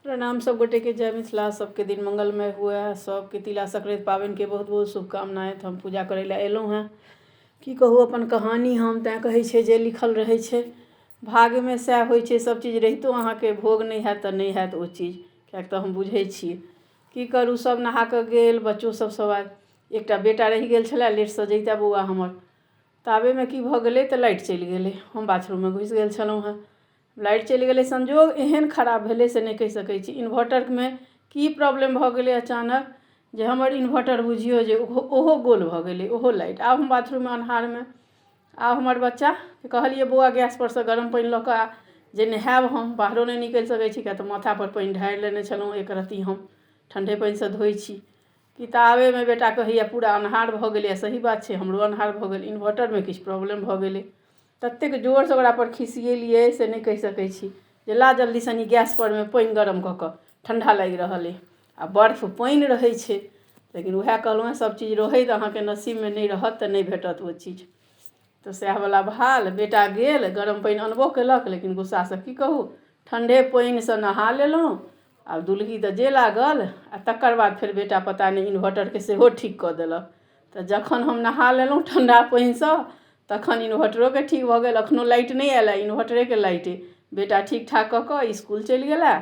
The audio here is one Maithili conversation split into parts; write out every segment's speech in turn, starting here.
प्रणाम सब गोटे के जय मिथिला सबके दिन मंगलमय हुए सबके तिला संक्रांति पाबनि के बहुत बहुत शुभकामना तऽ हम पूजा करै लए एलहुँ हँ की कहू अपन कहानी हम तैं कहै छै जे लिखल रहै छै भाग्य मे सएह होइ छै सब चीज रहितो अहाँके भोग नहि होयत तऽ नहि होयत ओ चीज किएक तऽ हम बुझै छियै की करू सब नहा कऽ गेल बच्चो सब सब आयल एकटा बेटा रहि गेल छलए लेट सऽ जैता बौआ हमर ताबे मे की भऽ गेलै तऽ लाइट चलि गेलै हम बाथरूम मे घुसि गेल छलहुँ हँ लाइट चलि गेलै संजोग एहन खराब भेलै से नहि कहि सकै छी इन्भर्टरमे की प्रॉब्लम भऽ गेलै अचानक जे हमर इन्भर्टर बुझियौ जे ओहो ओहो गोल भऽ गेलै ओहो लाइट आब हम बाथरूममे अन्हारमे आब हमर बच्चा कहलियै बौआ गैस परसँ गरम पानि लऽ कऽ आ जे नहायब हम बाहरो नहि निकलि सकै छी किएक तऽ माथा पर पानि ढारि लेने छलहुँ एक रति हम ठण्डे पानिसँ धोइ छी कि ताबेमे बेटा कहैया पूरा अन्हार भऽ गेलैया सही बात छै हमरो अन्हार भऽ गेल इन्भर्टरमे किछु प्रॉब्लम भऽ गेलै ततेक जोरसँ ओकरापर खिसिएलियै से नहि कहि सकै छी जे ला जल्दी सनी गैसपर मे पानि गरम कऽ कऽ ठण्डा लागि रहल अइ आ बर्फ पानि रहै छै लेकिन उएह कहलहुँ हेँ सभचीज रहै तऽ अहाँके नसीबमे नहि रहत तऽ नहि भेटत ओ चीज तऽ सएहवला हाल बेटा गेल गरम पानि अनबो कयलक लेकिन गुस्सासँ की कहू ठण्डे पानिसँ नहा लेलहुँ आ दुलही तऽ जे लागल आ तकर बाद फेर बेटा पता नहि इनभर्टरके सेहो ठीक कऽ देलक तऽ जखन हम नहा लेलहुँ ठण्ढा पानिसँ तखन इन्वर्टरोके ठीक भऽ गेल एखनो लाइट नहि आयल हँ इन्वर्टरेके लाइट अइ बेटा ठीक ठाक कऽ कऽ इसकुल चलि गेल हँ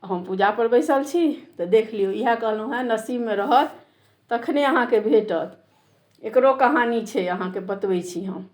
हम पूजापर बैसल छी तऽ देख लियौ इएह कहलहुँ हँ नसीबमे रहत तखने अहाँके भेटत एकरो कहानी छै अहाँके बतबै छी हम